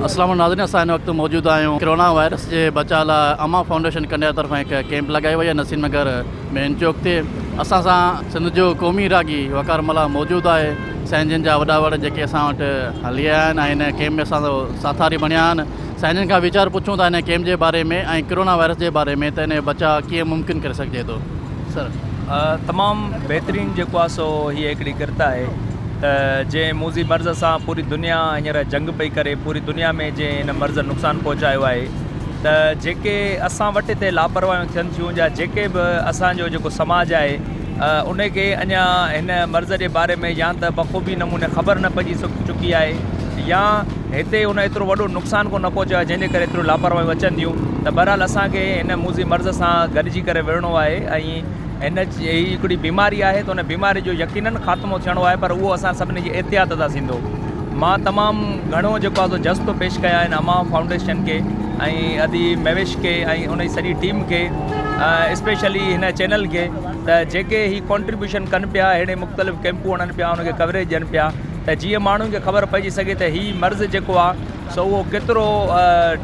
اسلام ناظرين اسان هن وقت موجود آهيون ڪرونا وائرس جي بچاء لاء امان فائونڊيشن ڪنڊيار طرفان هڪ ڪيمپ لڳائي وئي آهي نسيم نگر مين چوڪ تي اسان سان سنڌ جو قومي راڳي وقار ملاح موجود آهي سائين جن جا وڏا وڙ جيڪي اسان وٽ هلي آيا آهن ۽ هن ڪيمپ ۾ اسان سان ساٿاري بڻيا آهن سائين جن کان ويچار پڇون ٿا هن ڪيمپ جي باري ۾ ۽ ڪرونا وائرس جي باري ۾ ته هن جو بچاء ڪيئن ممڪن ڪري سگهجي ٿو. سر تمام بهترين جيڪو آ سو هي هڪڙي ڪرت آهي ته جنهن موذي مرض سان پوري دنيا هينئر جنگ پئي ڪري پوري دنيا ۾ جنهن هن مرض نقصان پهچايو آهي ته جيڪي اسان وٽ هتي لاپرواهيون ٿين ٿيون جا جيڪي به اسانجو جيڪو سماج آهي ان کي اڃا هن مرض جي باري ۾ يا ته بخوبي نموني خبر نه پئجي چڪي آهي يا هتي ان ايترو وڏو نقصان ڪو نه پهچيو آهي جنهن جي ڪري ايتريون لاپرواهيون اچن ٿيون ته بهرحال اسان کي هن موذي مرض سان گڏجي ڪري وڙهڻو آهي ۽ هن جي هي هڪڙي بيماري آهي ته ان بيماري جو يقينن خاتمو ٿيڻو آهي پر اهو اسان سڀني جي احتياط سان ٿيندو مان تمام گهڻو جيڪو آهي سو جس ٿو پيش ڪيان هن امان فائونڊيشن کي ۽ ادي مهويش کي ۽ ان جي سڄي ٽيم کي اسپيشلي هن چينل کي ته جيڪي هي ڪنٽريبيوشن ڪن پيا اهڙي مختلف ڪيمپون هڻن پيا ان کي ڪوريج ڏين پيا ته جيئن ماڻهن کي خبر پئجي سگهي ته هي مرض جيڪو آهي سو اهو ڪيترو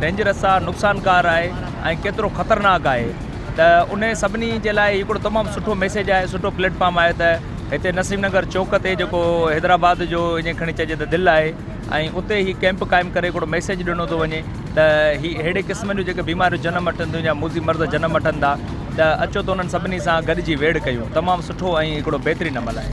ڊينجرس آهي، نقصانڪار آهي ۽ ڪيترو خطرناڪ آهي ته انهي سڀني جي لاء هڪڙو تمام سٺو ميسيج آهي سٺو پليٽ فارم آهي ته هتي نسيم نگر چوڪ تي جيڪو حيدرآباد جو اڃي کڻي چئجي ته دل آهي ۽ اتي هي ڪيمپ قائم ڪري هڪڙو ميسيج ڏنو ٿو وڃي ته هي ههڙي قسم جون جيڪي بيماريون جنم وٺن ٿيون يا موذي مرض جنم وٺن ٿا ته اچو ته انهن سڀني سان گڏجي ويڙهه ڪيون. تمام سٺو ۽ هڪڙو بهترين عمل آهي.